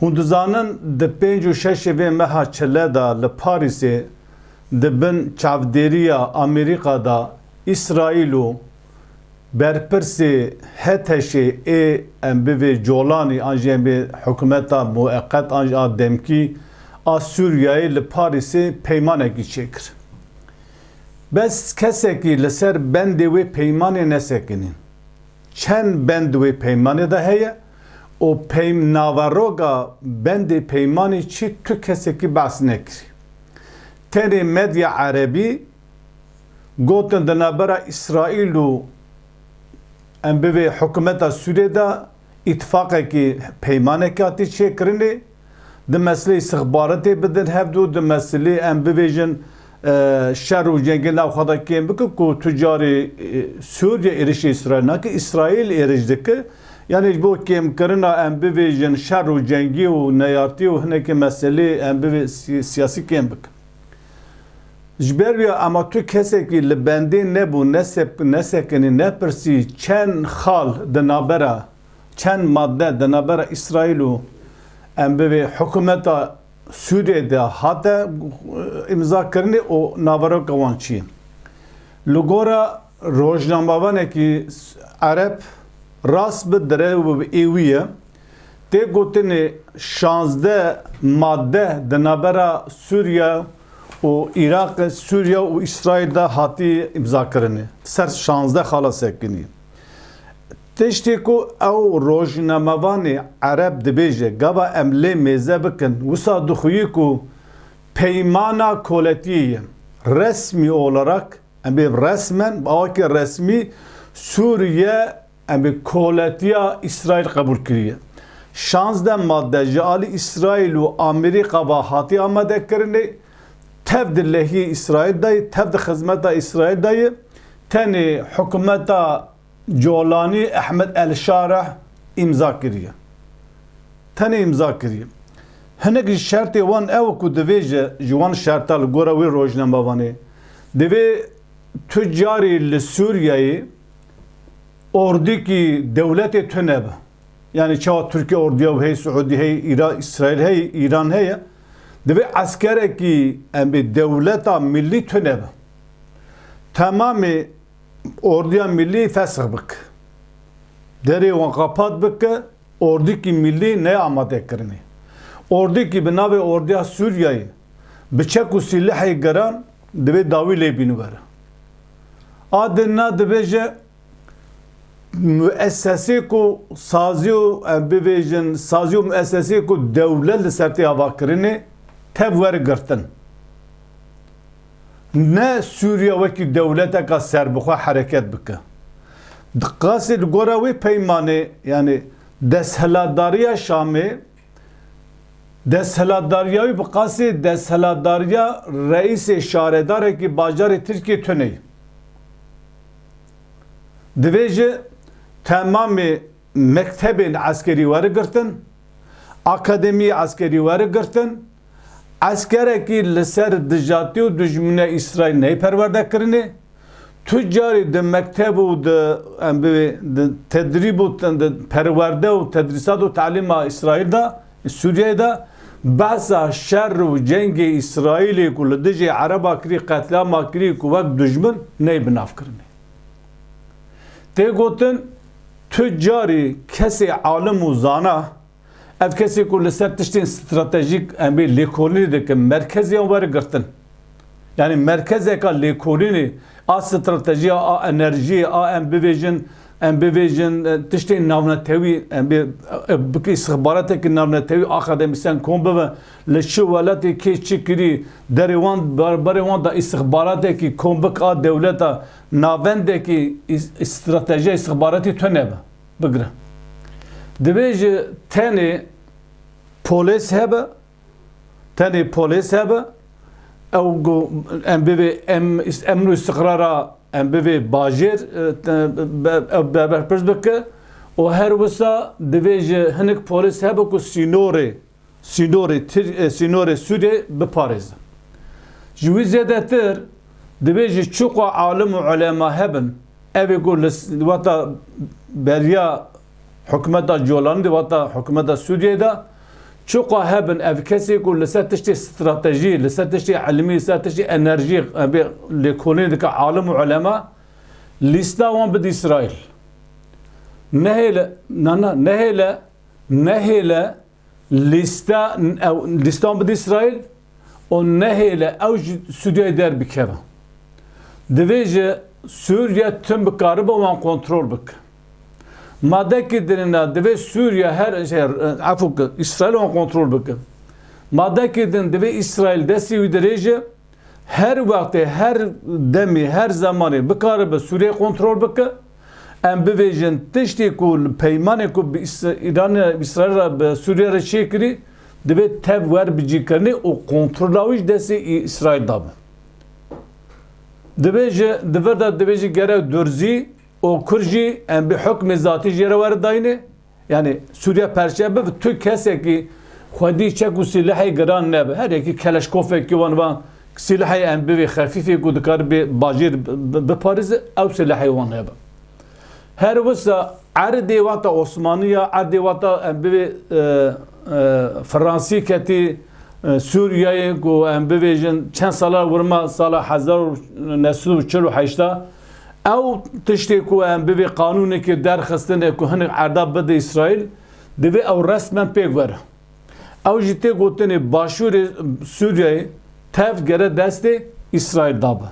Hûn dizanin di pênc û şeşê vê meha çile de li Parîsê di bin çavdêriya Amerîka de Îsraîl û berpirsê HTŞ'ê ê em bivê Colanî an jî em bê hikûmeta mueqet an jî a demkî a Sûriyeyê li Parîsê peymanekî çêkir. Bes kesekî li ser bendê wê peymanê nesekinîn. Çend bend di wê peymanê de heye? û peym naveroga bendê peymanê çi tu kesekî behs nekirî. Tenê medya erebî gotin di navbera Îsraîl û em bivê hikûmeta Sûriyê de îtîfaqekî peymanekî hatî çêkirinê. Di mesilê îstixbaretê bidin hev du, di mesilê em bibêjin şer û cengê nav xwe de kêm bikin ku tu carî Sûriye êrişê Îsraîl nake, Îsraîl êriş dike. Yanî ji bo kêmkirina em bibêjin şer û cengî û neyartî û hinekî meselê em bibê siyasî kêm bikin. Ji ber wî ema tu kesekî li bendê nebû, nesekinî, nepirsî çend xal di navbera çend madde di navbera Îsraîl û em bivê hikûmeta Sûriyeyê de hate îmzakirinê û naveroka wan çi ye? Li gora rojnamevanekî ereb rast bi dire û bi êwî ye, tê gotinê şazdeh madde di navbera Sûriye û Îraqê, Sûriye û Îsraîl de hatiye îmzakirinê. Ser şazdeh xala sekinî. Tiştê ku ew rojnamevanê ereb dibêje gava em lê mêze bikin, wisa dixuye ku peymana koletiyê ye. Resmî olarak, em bê resmen bi awakî resmî Sûriye em bê koletiya Îsraîl qebûl kiriye. Şazdeh made ji alî Îsraîl û Amerîka ve hatiye amadekirinê. Tev di lehiyê Îsraîl de ye, tev di xizmeta Îsraîl de ye. Tenê hikûmeta. Colanî Ehmed El Şareh îmza kiriye. Tenê îmza kiriye. Hinek ji şertê wan ew ku divê ji ji wan şerta li gora wê rojnamevan ê divê tu carî li Sûriyeyê ordîkî dewletê tunebe. Yanî çawa Tirkiye ordiya wî heye, Siûdî heye, Îra Îsraîl heye, Îran heye. Divê eskerekî em bê dewleta milî tunebe. Temamê Orduya Millî fesh bik. Derê wan qapat bik ke Ordikî Millî neyê amade kirinê. Ordikî bi navê Orduya Sûriyeyê bi çek û sîlehê giran divê dawî lê bîn were. A din na dibêje muessesê ku sazî û em bibêjin sazî û muessesê ku dewlet li ser tê avakirinê tev werigirtin. Ne Sûriya wekî dewleteka serbixwe hereket bike. Di qasê li gora wê peymanê yanî desthilatdariya Şamê desthilatdariya wî bi qasê desthilatdariya reîsê şaredarekî bajarê Tirkiyê tune ye. Divê ji temamê Mektebên eskerî werigirtin, akademî eskerî werigirtin, eskerekî li ser dijatî û dijmîna Îsraîl ney perwerde kirinê, tu carî di mekteb û di em bivê di tedrîb û di perwerde û tedrîsat û talîma Îsraîl de, Sûriyeyê de behsa şer û cengê Îsraîlê ku li dijî ereba kirî qetlîama kirî ku wek dijmin ney bi nav kirinê. Tê gotin tu carî kesê alim û zana, ev kesê ku li ser tiştên stratejîk em ê lêkolînê dikin merkeziyan were girtin. Yanî merkezeka lêkolînê a stratejiya a enerjiyê a em bivêjin em bivêjin tiştên navnetewî em bê bikî istixbaretekî navnetewî akademîsyen kom bibe li çi welatê kê çi kirî derê wan berê wan da istixbaretekî kom bik a dewleta Navendekî stratejiya îstixbaratî tune be. Bigire. Divê ji tenê polês hebe, tenê polês hebe, ew ku em bivê em emn û îstiqrara em bivê bajêr ew berpirs bike û her wisa divê ji hinek polês hebe ku sînorê sînorê sînorê Sûdê biparêzin. Ji wî zêdetir divê ji çiqo alim û ulema hebin, evê ku li weta beriya hikûmeta Colanî de weta hikûmeta Sûdiyê de çiqo hebin ev kesê ku li ser tiştê stratejî, li ser tiştê ilmî, li ser tiştê enerjî bê lêkolînê dike alim û ulema lîsta wan bide Îsraîl. Nehêle, na na, nehêle Nehêle lîsta ew lîstan bidî Îsraîl û nehêle ew ji Sûriyeyê derbikeve. Divê ji Sûriye tim bikaribe wan kontrol bike. Madekî dinina divê Sûriye her efû ki Îsraîl wan kontrol bike. Madekî din divê Îsraîl destê wî dirêje her wextê her demê her zemanê bikaribe Sûriyeyê kontrol bike. Em bibêjin tiştê ku li peymanê ku bi Îsraîlê re bi Sûriyê re çêkirî divê tev werbicîkirinî û kontrola wî ji destê Îsraîl de be. Divê ji di vir de divê jî gerek durzî û kur jî em bê hukmê zatî jê re weridayînê. Yanî Sûriye perçe biv tu kesekî xwedî çek û sîlehê giran nebe. Her yekî keleşkofekî wan va sîlehê em bivê xefîfê ku dikaribê bajêr biparêze ew sîlehê wan hebe. Her wisa erdê wata Osmanî ya erdê wata em bivê Fransî ketî Sûriyeyê ku em bivêjin çend sala wirma sala hezar û neh sed û çil û heşta Ew tiştê ku em bi vê qanûnekê derxistine ku hinek erda bide Îsraîl, divê ew resmen pêk were. Ew jî tê gotinê başûrê Sûriyeyê tevt gere destê Îsraîl da be.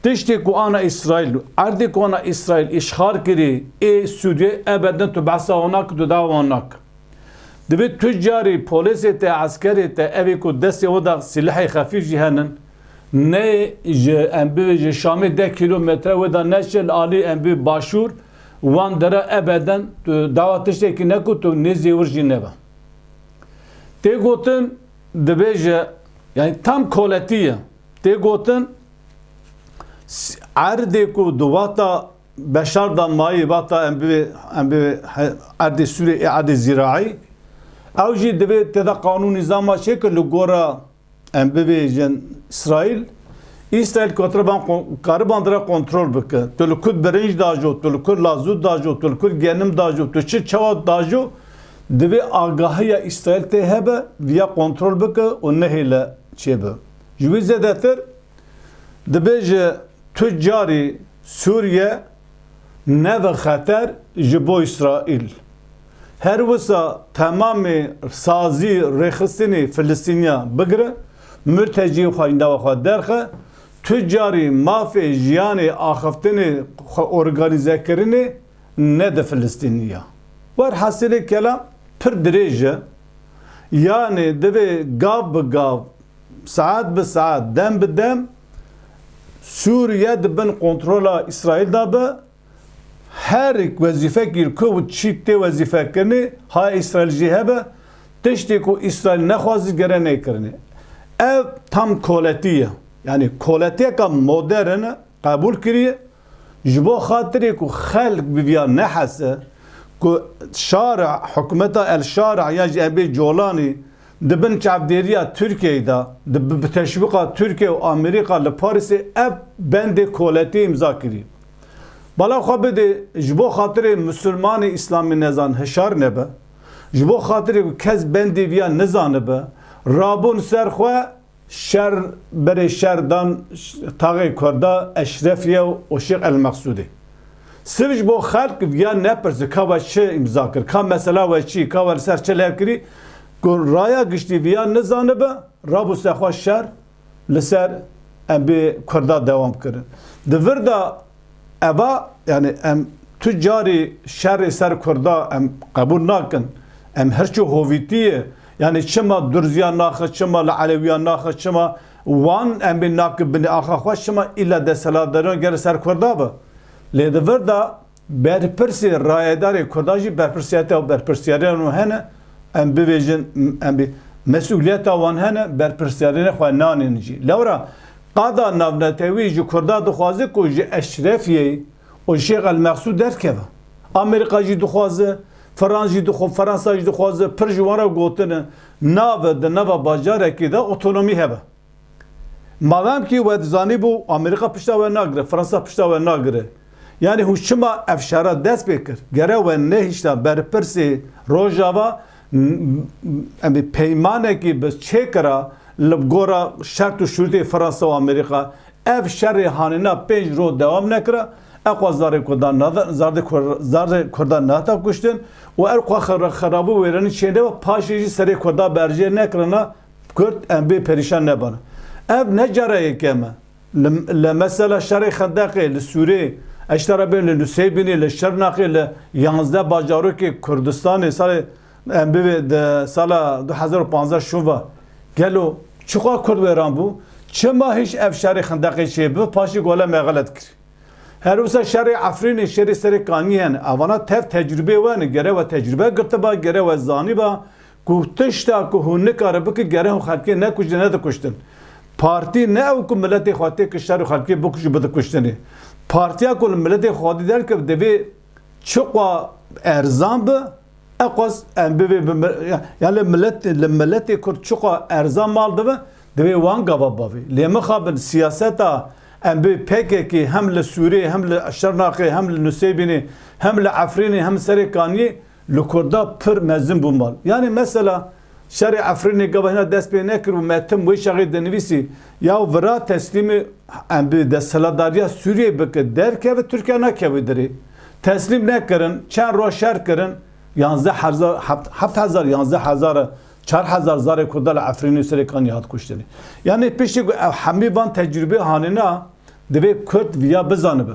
Tiştê ku ana Îsraîl û erdê ku ana Îsraîl îşxal kirî ê Sûriyê ebe din tu behsa wan nake, tu dawa wan nake. Divê tu carî polêsê te, eskerê te evê ku destê we de silehê xefîf jî henin, Nê ji em bi ji Şamê deh kîlometre wê de neşil alî em bi başûr wan dere ebeden tu dawa tiştekî neku tu nêzî wir jî nebe. Tê gotin dibêje yanî tam koletî ye. Tê gotin erdê ku di wexta Beşar da mayî wexta em bi em bi erdê Sûrê ê erdê zîraî ew jî divê tê de qanûn nîzama çêkir li gora Em bibêjin Îsraîl, Îsraîl kotreban kariban dira kontrol bike. Tu li kur birinc dajo, tu li kur lazût dajo, tu li kur genim dajo, tu çi çawa dajo, divê agahiya Îsraîl tê hebe, viya kontrol bike û nehêle çêbe. Ji wî zêdetir, dibê ji tu carî Sûriye nebe xeter ji bo Îsraîl. Her wisa temamê sazî rêxistinê Filistîniyan bigire, murtecî xweyndava xwe derxe, tu carî mafê jiyanê axiftinê xwe organîze kirinê ne di Filistînî ya. Wer hesilê kelam pir dirêj e. Yanê divê gav bi gav, saet bi saet, dem bi dem Sûriye di bin kontrola Îsraîl de be, her wezîfekî li ku çî tê wezîfekirinê haya Îsraîl jî hebe, tiştê ku Îsraîl nexwazî gere nêkirinê. Ev tam koletî ye. Yanî koletiyeke modern e, qebûl kiriye. Ji bo xatirê ku xelk bi viya nehese ku Şara, hikûmeta El Şara ya ji Ebê Colanî Di bin çavdêriya Tirkiyeyê de, di bi teşwîqa Tirkiye û Amerîka li Parîsê ev bendê koletî îmza kirî. Bala xwe bidê ji bo xatirê Musulmanê Îslamînezan hişar nebe, ji bo xatirê ku kes bendê viya nizanibe, rabûn ser xwe, Şer berê şer dan taxê Kurda Eşrefiye û Şêx Elmeksûdê. Siv ji bo xelk viya nepirse ka we çi îmza kir, ka mesela we çi, ka we li ser çi lêv kirî, ku raya giştî viya nizanibe, rabû ser xwe şer li ser em bê Kurda dewam kirin. Di vir de Eva yanî em tu carî şerê ser Kurda em qebûl nakin. Em hirçê hovîtî ye. Yanî çima Durziyan naxe, çima li Elewiyan naxe, çima wan em bê nake binê axa xwe, çima îlla desthilatdariyan gere ser Kurda be. Lê di vir de berpirsê rayedarê Kurdan jî berpirsiyeta û berpirsiyariyan wan hene, em bibêjin em bê mesûliyeta wan hene, berpirsiyariyê xwe nanên jî. Lewra Qada navnetewî ji Kurda dixwaze ku ji Eşrefiyê û Şêx El Mexsûd derkeve. Amerîka jî dixwaze, Firans jî dixw, Ferensa jî dixwaze, pir ji wan re gotin e nabe di nava bajarekî de otonomî hebe. Mademkî we dizanîbû Amerîka pişta we nagire, Firansa pişta we nagire, yanî hûn çima ev şera dest pê kir? Gere we nehişta berpirsê Rojava Em ê peymanekî bi çê kira li bi gora şert û şurûtê Fransa û Amerîka. Ev şerê hanîna pênc roj dewam nekira. Ew xwe zardê kurdan nada, zardê zardê kurdan nehata kuştin û ew xwe xerabû wêrenî çê neba, paşê jî serê kurdan berjê nekirina kurd em bê perîşan nebin. Ev ne cara yekem e. Li li mesela şerê Xendeqê, li Sûrê, eşta re bên li Nusêybînê, li Şirnexê, li yanzdeh bajarokê Kurdistanê salê em bivê di sala du hezar û panzdeh şova. Gelo çiqas Kurd wêran bû? Çima hîş ev şerê Xendeqê çê bi paşê gole me xelet kir? Her wisa şerê Efrînê, şerê serê Kaniyê hene. Evana tev tecrûbeyê we ne. Gere we tecrûbe girtiba, gere we zanîba Ku tişta ku hûn nikare bikin gere hûn xelkê nekujtin ne dikuştin. Partî ne ew ku miletê xwe tê kiştar û xelkê bikuj û bidikuştin e. Partiya ku li miletê xwedî derkeve divê çiqwa erzan bi eqwaz em bivê bi ya li milet li miletê kurd çiqwa erzan mal dibe divê wan gava bavê. Lê mixabin siyaseta em bi pkk hem li Sûriyê hem li Şirnaqê hem li Nusêybînê hem li Efrînê hem serê Kaniyê Li Kurda pir mezin bû mal. Yanî mesela şerê Efrînê gava hîna dest pê nekir û Metin Wêşexê dinivîsî ya û vira teslîmî em bi desthilatdariya Sûriyeyê bike derkeve Tirkiye nakeve dirê. Teslîm nekirin, çend roj şer kirin, yanzdeh heza heft hezar, yanzdeh hezar e, çar hezar zarê Kurda li Efrînê û serê Kaniyê hat kuştin. Yanî piştî ku ew hemî van tecrûbeyê hanîna divê Kurd viya bizanibe.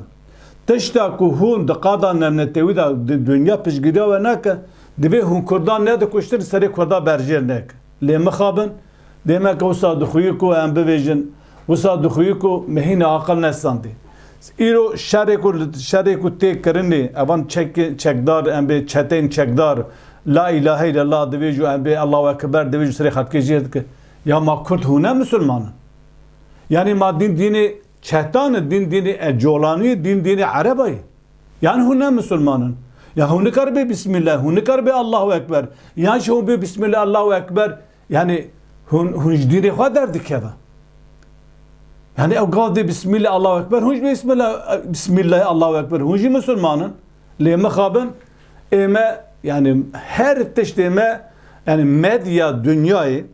Tişta ku hûn di qada nemnetewî de di dinya piştgiriya we neke, divê hûn kurdan nedikuştin li serê kurdan berjêr neke. Lê mixabin, dêmeke wisa dixuyi ku em bibêjin, wisa dixuyi ku me hîna aqil nesandî. Îro şerê ku şerê ku tê kirinê, evan çekê çekdar em bê çeteyên çekdar La îlahe îlellah divê jû em bê Allahu ekiber divê jû serê xelkê jêr dike. Ya ma kurd hûn ne misilman in? Yanî ma dîn dînê Çehtane dîn dînê e colaniyê dîn dînê ereba ye. Yan hûn ne misilman in. Yan hûn nikaribe bîsmîllah hûn nikaribe Allahu ekber. Yan jî hûn bê bîsmîllah Allahu ekber yanî hûn hûn ji dînê xwe derdikeve. Yanî ew gav dê bîsmîllah Allahu ekber hûn jî bîsmîllah bîsmîllahê Allahu ekber hûn jî misilman in. Lê mixabin ême yanî her tiştê me yanî medya dunyayê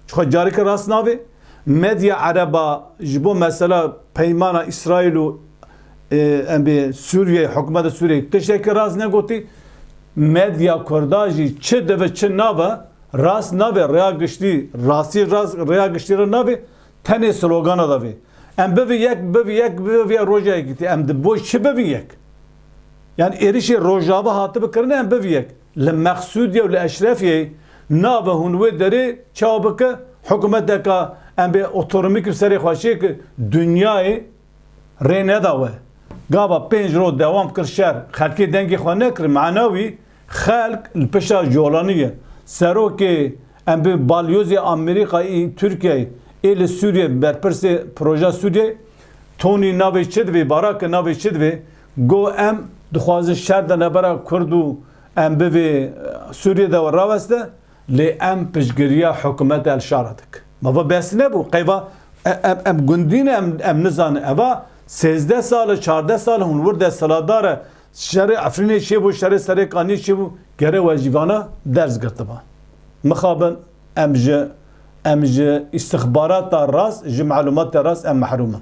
Çixwe careke rast navê, medya ereb a ji bo mesela peymana Îsraîl û em bê Sûriyeyê, hikûmeta Sûriyeyê tiştekî rast negotî, medya kurd a jî çi dibe çi nabe rast navê, rêya giştî rastî rêya giştî re navê, tenê slogana davê. Em bivî yek, bivî yek, bivî yek roja yekîtî. Em di bo çi bivî yek? Yan êrişê Rojava hatibe kirine em bivî yek. Li Meqsûdiyê û li Eşrefiyê nabe hûn wê derê çawa bike hikûmeteke em bê otonomîk bi serê xwe şêk dinyayê rê neda we. Gava pênc roj dewam kir şer xelkê dengê xwe nekir mena wî xelk li pişta Jolanî ye. Serokê em bê balyozê Amerîka ê Tirkiyeyê ê li Sûriyeyê berpirsê projeya Sûriyeyê Tony navê çi divê barake navê çi divê Got em dixwazin şer di navbera Kurd û em bivê Sûriyê de raweste lê em piştgiriya hikûmeta El-Şara dikin. Mava behs nebû qeyva em gundî ne em nizanin eva sêzdeh sal e çardeh sal e hûn wir desthilatdar e şerê Efrînê çêbû şerê serê Kaniyê çêbû gere we jî vana ders girtiba. Mixabin em ji em ji îstixbarata rast ji malûmatê rast em mehrûm in.